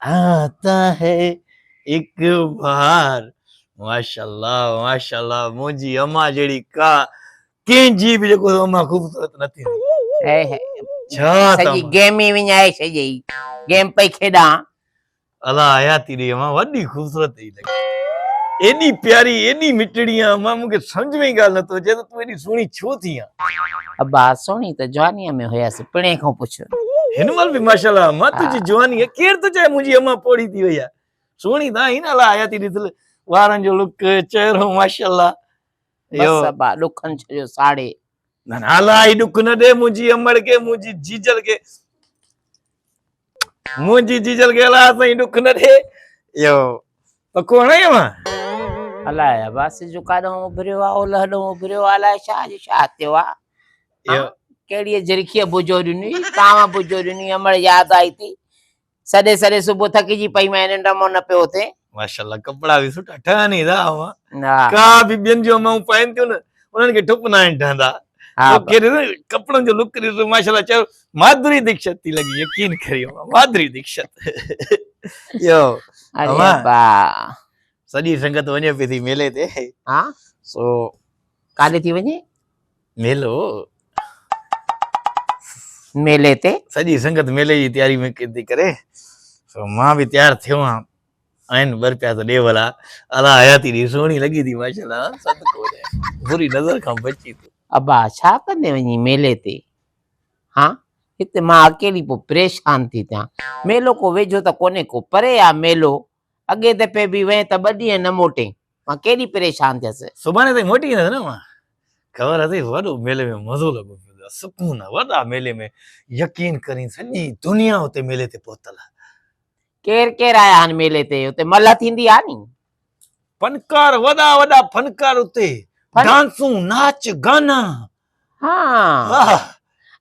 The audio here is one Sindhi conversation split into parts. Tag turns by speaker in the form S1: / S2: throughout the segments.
S1: آتا هي ايڪ بهار ماشاء الله ماشاء الله منهنجي اما جهڙي ڪا ڪنهن جي به جيڪو اما خوبصورت نه ٿي ڇا سڄي گيم ئي
S2: وڃائي ڇڏيئي گيم پئي کيڏان الله
S1: حياتي ڏي اما وڏي خوبصورت ايڏي پياري ايڏي مٺڙي آن مان مون کي سمجھ ۾ ئي ڳالھ نه ٿو اچي ته تون ايڏي سهڻي ڇو ٿي آن. ابا سهڻي ته
S2: جوانيء ۾ هيس پڻهين کان پڇ. هن مهل به ماشاء
S1: الله امان تنهنجي جوانيء ڪير ٿو چاهي منهنجي امان پوڙهي ٿي وئي آ سهڻي ته آهين الا حياتي ڏس وارن جو لڪ چهرو ماشاء الله بس
S2: ابا ڏکن ڇو جو ساڙي نه نه الا
S1: هي ڏک نه ڏي منهنجي امڙ کي منهنجي جيجل کي منهنجي جيجل کي الا سائين ڏک نه ڏي اهو پڪو هڻي امان الا
S2: عباس جو ڪاڏو اڀريو آ اول هڏو اڀريو آ الا شاھ جو شاھ تيو آ اهو ڪهڙي جرخي بوجو ڏني تاوا بوجو ڏني امڙ ياد آئي ٿي سڏي سڏي صبح ٿڪجي پئي مين ننڊ مون نه پيو ٿي ماشاءالله ڪپڙا به
S1: سٺا ٺهن ئي ٿا اوهان ڪا به ٻين جو مون پائن ٿيون نه انهن کي ٺپ نه آهن ٺهندا ڪپڙن جو لڪ ڏسو ماشاءالله چيو مادري ديکشت ٿي لڳي يقين ڪريو مادري ديکشت يو اوما
S2: سڄي
S1: سنگت وڃي پي ٿي ميلي تي ها سو ڪاڏي
S2: ٿي وڃي ميلو ميلي تي سڄي سنگت ميلي جي
S1: تياري ۾ ٿي ڪري سو مان به تيار ٿيو آهيان آئين بر پيا ته ڏي ولا الا حياتي ڏي سوهڻي لڳي ٿي ماشاءالله صدقو ڏي بري نظر کان بچي تو ابا ڇا ڪندي
S2: وڃي ميلي تي ها هتي مان اڪيلي پو پريشان ٿي ٿيان ميلو ڪو ويجهو ته ڪونهي ڪو پري آ ميلو اڳئين دفعي به وئين ته ٻه ڏينهن نه موٽين. مان ڪيڏي پريشان ٿيس. سڀاڻي تائين موٽي ايندس نه
S1: امان؟ خبر اٿئي وڏو ميلي ۾ مزو لڳو پيو ٿئي سڪون آ وڏا ميلي ۾ يقين ڪرين سڄي دنيا اتي ميلي تي پهتل آ. ڪير
S2: ڪير آيا آهن ميلي تي اتي ملهه ٿيندي آ ني. فنڪار
S1: وڏا وڏا فنڪار اتي فن ڊانسون ناچ گانا ها واهه.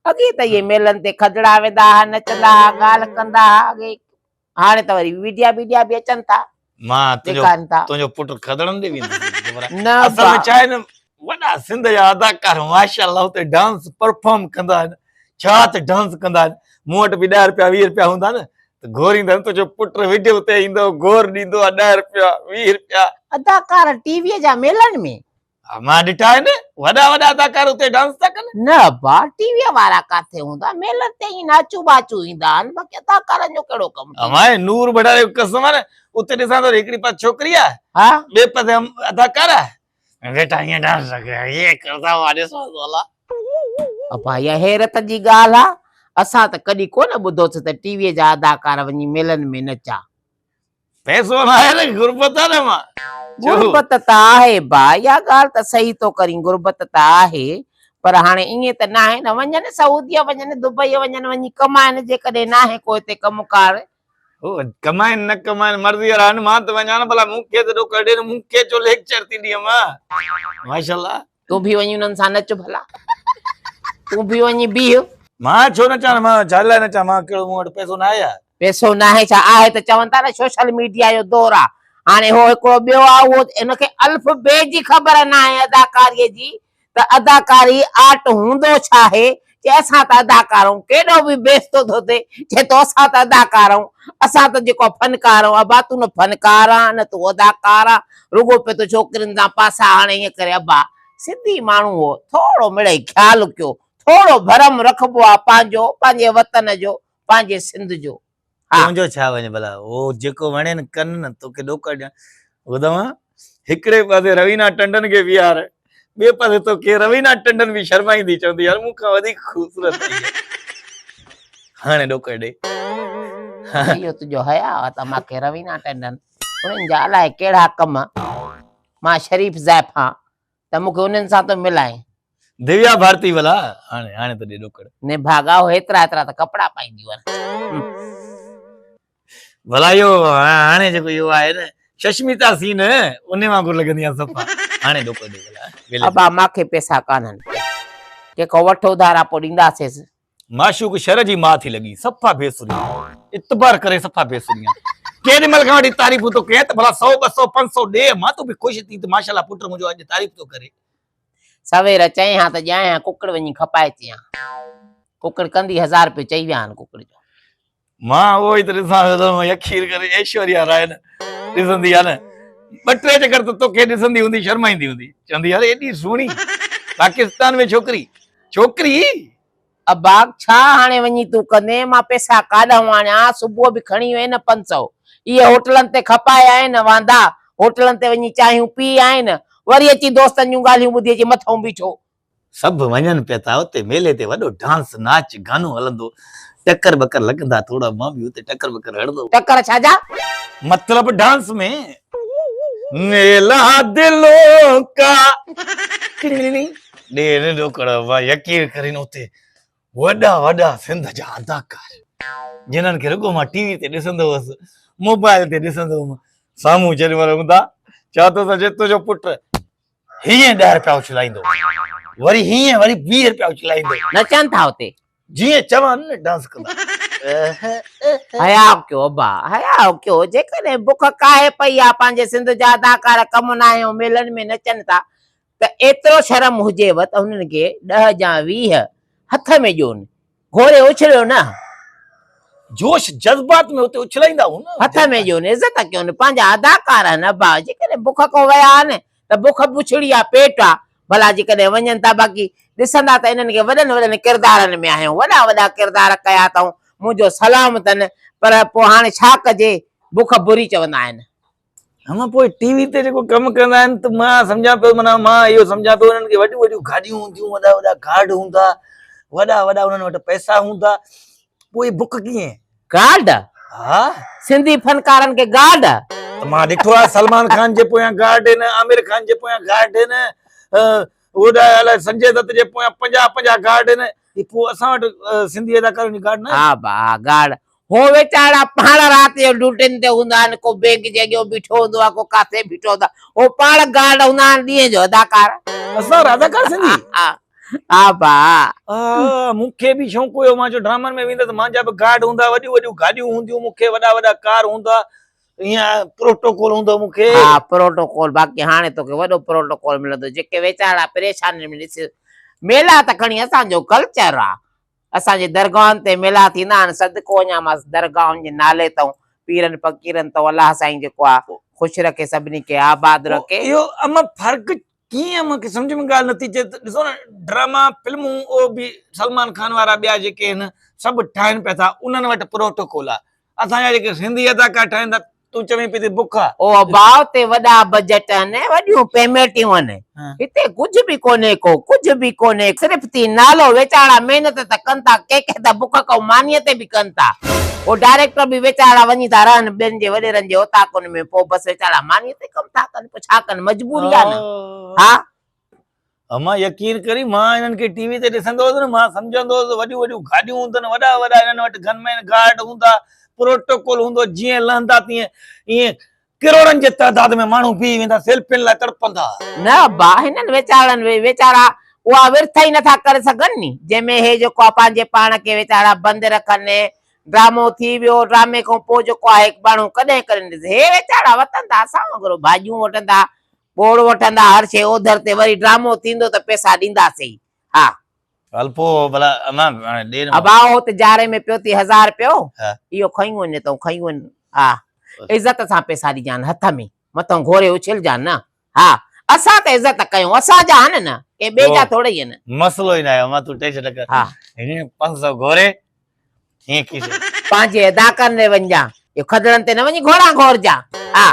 S2: اڳي ته اهي ميلن تي کدڙا ويندا ها نچندا ها ڳالهه ڪندا ها اڳي هاڻي ته وري ويڊيا بيڊيا به اچن ٿا مان ڏيکارن
S1: ٿا تنهنجو پٽ کدڙن ڏي ويندو نه اصل ۾ چاهي نه وڏا سنڌ جا اداڪار ماشاءالله اتي ڊانس پرفارم ڪندا آهن ڇا ته ڊانس ڪندا آهن مون وٽ به 10 رپيا 20 رپيا هوندا نه ته گهوريندا تو جو پٽ ويڊيو تي ايندو گهور ڏيندو 10 رپيا 20 رپيا اداڪار ٽي وي جا ميلن ۾ مان ڏٺا آهن وڏا وڏا اداڪار اتي ڊانس ٿا ڪن. نه ابا ٽي ويء
S2: وارا ڪاٿي هوندا ميلن تي ائين ناچون ٻاچون ايندا آهن باقي اداڪارن جو ڪهڙو ڪم ٿيندو. امان نور بڙا
S1: جو قسم آهي اتي ڏسان ٿو هڪڙي پاسي ڇوڪري آهي ها ٻئي پاسي اداڪار آهي ويٺا ائين ڊانس ٿا ڪن ائين ڪردا مان ڏسان ٿو الا. ابا
S2: اها حيرت جي ڳالهه آهي اسان ته ڪڏهن ڪونه ٻڌوسين ته ٽي ويء جا اداڪار وڃي ميلن ۾ نچا پئسو
S1: ناهي ته غربت آ نه مان غربت
S2: ته آهي ڀاء اها ڳالهه ته صحيح ٿو ڪرين غربت ته آهي پر هاڻي ائين ته ناهي نه وڃن سعوديه وڃن دبئي وڃن وڃي ڪمائن جيڪڏهن ناهي ڪو هتي ڪم ڪار هو ڪمائن
S1: نه ڪمائن مرضي وارا آهن مان ته وڃان ڀلا مون کي ته ڏوڪڙ ڏين مون کي ڇو ليڪچر ٿي ڏين مان ماشاءالله تون به وڃي
S2: انهن سان نچ ڀلا تون به وڃي بيهه مان ڇو نه چان
S1: مان ڇا لاء نه چان مان ڪهڙو مون وٽ پئسو نه آهي پئسو نه آهي ڇا
S2: آهي ته چون ٿا نه سوشل ميڊيا جو دور آهي هاڻي هو هڪڙو ٻيو آهي اهو ان کي الف بي جي خبر نه آهي اداڪاري جي ته اداڪاري آرٽ هوندو ڇا آهي جنهن سان ته ادا ڪارون ڪيڏو به بيستو ٿو ٿئي، چي تو سان ته ادا ڪارون، اسان ته جيڪو فن ڪار آهون ابا تون نه فن ڪار آهين نه تون ادا ڪار آهين، رڳو پئي ٿو ڇوڪرين تان پاسا هڻي ائين ڪري ابا سنڌي ماڻهو هو ٿورو مڙئي خيال ڪيو، ٿورو ڀرم رکبو آهي پنهنجو، پنهنجي وطن جو، پنهنجي سنڌ جو. ها. تنهنجو ڇا
S1: وڃي ڀلا هو جيڪو وڻين ڪن نه توکي ڏوڪڙ ڏيان ٻڌ اوهان هڪڙي پاسي روينا ٽنڊن کي بيهار ٻئي پاسي توکي روينا ٽنڊن به شرمائيندي چوندي يار مون کان وڌيڪ خوبصورت ٿي هي هاڻي ڏوڪڙ ڏي ها.
S2: اهو تنهنجو حياء آ ته مان کي روينا ٽنڊن انهن جا الائي ڪهڙا ڪم مان شريف زائفان ته مون کي انهن سان ٿو ملائين. ديويا ڀارتي
S1: ڀلا هاڻي هاڻي ته ڏي ڏوڪڙ. نڀاڳا هو هيترا
S2: هيترا ته ڪپڙا پائيندي هئن.
S1: ڀلا اهو هاڻي جيڪو اهو آهي نه ششميتا سين انهي وانگر لڳندي آهي صفا هاڻي ڏوڪڙ ڏي ڀلا. ابا
S2: ماکي پيسا
S1: ڪانهن.
S2: جيڪو وٺ اڌارا پوء ڏينداسيس.
S1: معشوق شھر جي ماء ٿي لڳي صفا بي سري اتبار ڪري صفا بي سري ڪيڏي مھل کان وٺي تعريفون ٿو ڪيئن ته ڀلا سو ٻه سو پنج سو ڏي مان تون به خوش ٿي ته ماشاءالله پٽ منھنجو اڄ تعريف ٿو ڪري. سوير
S2: چئين ھا ته ڄائين ھا ڪڪڙ وڃي کپائي چيان ڪڪڙ ڪندي ھزار رپيو چئي ويا ھن ڪڪڙ جو. مان اهو
S1: ئي ته ڏسان پيو ته يڪشير ڪري ايشوريا راء نه ڏسندي آهي نه ٻه ٽي چڪر ته توکي ڏسندي هوندي شرمائيندي هوندي چوندي يار ايڏي سهڻي پاڪستان ۾ ڇوڪري ڇوڪري اي
S2: باغ ڇا هاڻي وڃي تون ڪندين مان پئسا ڪاڏانهون آڻيان صبح به کڻي وئين نه پنج سئو اهي هوٽلن تي کپائي آئين واندا هوٽلن تي وڃي چانهيون پي آئين وري اچي دوستن جون ڳالهيون ٻڌي اچي مٿئون بيٺو سڀ وڃن
S1: پيا ٿا اتي ميلي تي وڏو ڊانس ناچ گانو هلندو ٽڪر ٻڪر لڳندا ٿورا مان به اتي ٽڪر ٻڪر هڻندو. ٽڪر ڇا جا؟
S2: مطلب
S1: ڊانس ۾. ميلا دلون ڪا ڏيڻ ڏوڪڙ مان يقين ڪرين اتي وڏا وڏا سنڌ جا اداڪار جنھن کي رڳو مان ٽي وي تي ڏسندو هوس موبائل تي ڏسندو هوم سامهون جڏھن وري هوندا چوندو هوس جي تنھنجو پٽ هيئن ڏهه رپيا اڇلائيندو وري هيئن وري ويهه رپيا اڇلائيندو. نچن ٿا اتي.
S2: جيئن چوان نه
S1: ڊانس ڪندا. حياء
S2: ڪيو ابا حياء ڪيو جيڪڏهن بک ڪاهي پئي آ پنهنجي سنڌ جا اداڪار ڪم ناهيون ميلن ۾ نچن ٿا ته ايترو شرم هجيو ته هنن کي ڏهه جا ويهه هٿ ۾ ڏيون گهوري اڇليو نه.
S1: جوش جذبات ۾ اتي اڇلائيندا هئون نه. هٿ ۾ ڏيو نه عزت
S2: ڪيو نه. پنهنجا اداڪار آهن ابا جيڪڏهن بک کان ويا آهن ته بک بڇڙي آهي پيٽ آهي ڀلا جيڪڏهن وڃن ٿا باقي ڏسندا ته انهن کي وڏن وڏن ڪردارن ۾ آهيون وڏا وڏا ڪردار ڪيا اٿئون منهنجو سلام اٿن پر پوء هاڻي ڇا ڪجي بک بري چوندا آهن. هن پوء
S1: ٽي وي تي جيڪو ڪم ڪندا آهن ته مان سمجهان پيو معنيٰ مان اهو سمجهان پيو انهن کي وڏيون وڏيون گاڏيون هونديون وڏا وڏا ڪارڊ هوندا وڏا وڏا انهن وٽ پئسا هوندا پوء بڪ ڪيئن گارڊ ها سنڌي فنڪارن
S2: کي گارڊ ته مان ڏٺو
S1: آهي سلمان خان جي پويان گارڊ آهن عامر خان جي پويان گارڊ آهن وڏا الاء سنجي دت جي پويان 50 50 گارڊ آهن پوء اسان وٽ سنڌي اداڪارن جي گارڊ نه ها با گارڊ
S2: هو ويچارا پاڻ رات جو ڊيوٽين تي هوندا آهن، ڪو بئنڪ جي اڳيون بيٺو هوندو آهي، ڪو ڪاٿي بيٺو هوندو آهي، هو پاڻ گارڊ هوندا آهن ڏينهن جو اداڪار. اسان وٽ اداڪار
S1: سنڌي. ها
S2: ڀا. ها مون
S1: کي به شونق هيو مان جو ڊرامن ۾ ويندس مانجا به گارڊ هوندا وڏيون وڏيون گاڏيون هونديون مون کي وڏا وڏا ڪار هوندا ائين پروٽوڪول هوندو مون کي. ها پروٽوڪول
S2: باقي هاڻي توکي وڏو پروٽوڪول ملندو جيڪي ويچارا پريشانين ۾ ڏس ميلا ته کڻي اسان جو ڪلچر آ. اسان جي درگاهن تي ميلا ٿيندا آهن صدقو اڃان ماس درگاهن جي نالي تئون پيرن فقيرن تئون الله سائين جيڪو آ خوش رکي سڀني کي آباد رکي. اهو اما فرق
S1: ڪيئن اما کي سمجھ ۾ ڳالھ نٿي اچي ڏسو نه ڊراما فلمون او به سلمان خان وارا ٻيا جيڪي آهن سڀ ٺاهين پيا ٿا انهن وٽ پروٽوڪول آ. اسان جا جيڪي سنڌي اداڪار ٺهن ٿا تون چوين پئي تي بک آ. او ابا اتي وڏا
S2: بجيٽ آهن وڏيون پيميٽيون آهن هتي ڪجهه به ڪونهي ڪو ڪجهه به ڪونهي صرف ٿي نالو ويچارا محنت ته ڪن ٿا ڪي ڪي ته بک ڪئو مانيء تي به ڪن ٿا او ڊائريڪٽر به ويچارا وڃي ٿا رهن ٻين جي وڏيرن جي اوطاقن ۾ پو بس ويچارا مانيء تي ڪم ٿا ڪن پو ڇا ڪن مجبوري آ نه ها. امان
S1: يقين ڪري مان انهن کي ٽي وي تي ڏسندو هوس نه مان سمجهندو هوس وڏيون وڏيون گاڏيون هوندن وڏا وڏا انهن وٽ گن مين گارڊ هوندا پروٽوڪول هوندو جيئن لهندا تيئن ائين ڪروڙن جي تعداد ۾ ماڻهو بيهي ويندا سيلفين لاء تڙپندا. نه ابا هنن
S2: ويچارن وي ويچارا اها ورٿ ئي نٿا ڪري سگهن ني جنهن ۾ هي جيڪو آ پنهنجي پاڻ کي ويچارا بند رکن ۽ ڊرامو ٿي ويو ڊرامي کان پوء جيڪو آهي ٻاڻو ڪڏهن ڪرين ڏسي هي ويچارا وتندا اسان وانگر ڀاڄيون وڍندا ٻوڙ وٺندا هر شيء اوڌر تي وري ڊرامو ٿيندو ته پئسا ڏينداسين ها. هل پوء
S1: ڀلا امان هاڻي ڏي نه. ابا اهو ته جاري ۾ پيو
S2: ٿي هزار رپيو ها. اهو کنيون وڃ تون کنيون وڃ ها عزت سان پئسا ڏجان هٿ ۾ مٿو گهوري اڇلجان نه ها اسان ته عزت ڪيون اسان جا آهن نه ڪنهن ٻئي جا ٿورئي آهن. مسئلو ئي ناهي امان تون
S1: ٽينشن نه ڪر ها. هينئر پنج
S2: سئو
S1: گهوري ڪيئن ڪيس. پنهنجي ادا
S2: ڪن ري ونجان. جو کدڙن تي نه وڃي گهوڙا گهورجان. آ.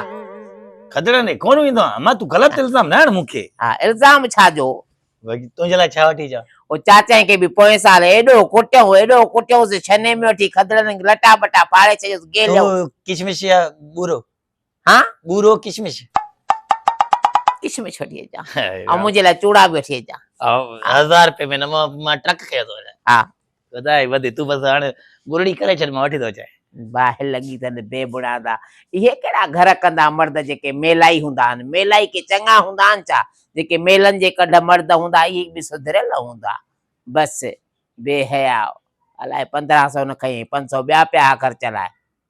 S2: کدڙن
S1: ري ڪونه ويندو آهيان. اما تون غلط الزام نه هڻ مون کي. آ. الزام ڇا
S2: جو. وڳي تنهنجي لاء
S1: ڇا وٺي اچان. او چاچائين کي به
S2: پوئين سال ايڏو ڪٽيو ايڏو ڪٽيوس جو ڇني ۾ وٺي کدڙن لٽا ٻٽا ڦاڙي ڇڏيوس گيليو. تو ڪشمش يا
S1: ٻورو. ها
S2: ٻورو ڪشمش ڪشمش وٺي اچان ۽ منهنجي لاء چوڙا به وٺي اچان هزار روپيه
S1: ۾ مان ٽرڪ کڻي ٿو وڃان ها خدا
S2: جي وڌي
S1: تون بس هاڻي گرڙي ڪري ڇڏ مان وٺي ٿو اچان باهه لڳي اٿن
S2: بي بڻا دا اهي ڪهڙا گهر ڪندا مرد جيڪي ميلائي هوندا آهن ميلائي ڪي چڱا هوندا آهن ڇا جيڪي ميلن جي ڪڍ مرد هوندا اهي به سڌريل هوندا بس بي حياء الائي پندرهن سؤ نه کئي پنج سؤ ٻيا پيا آخر چلائي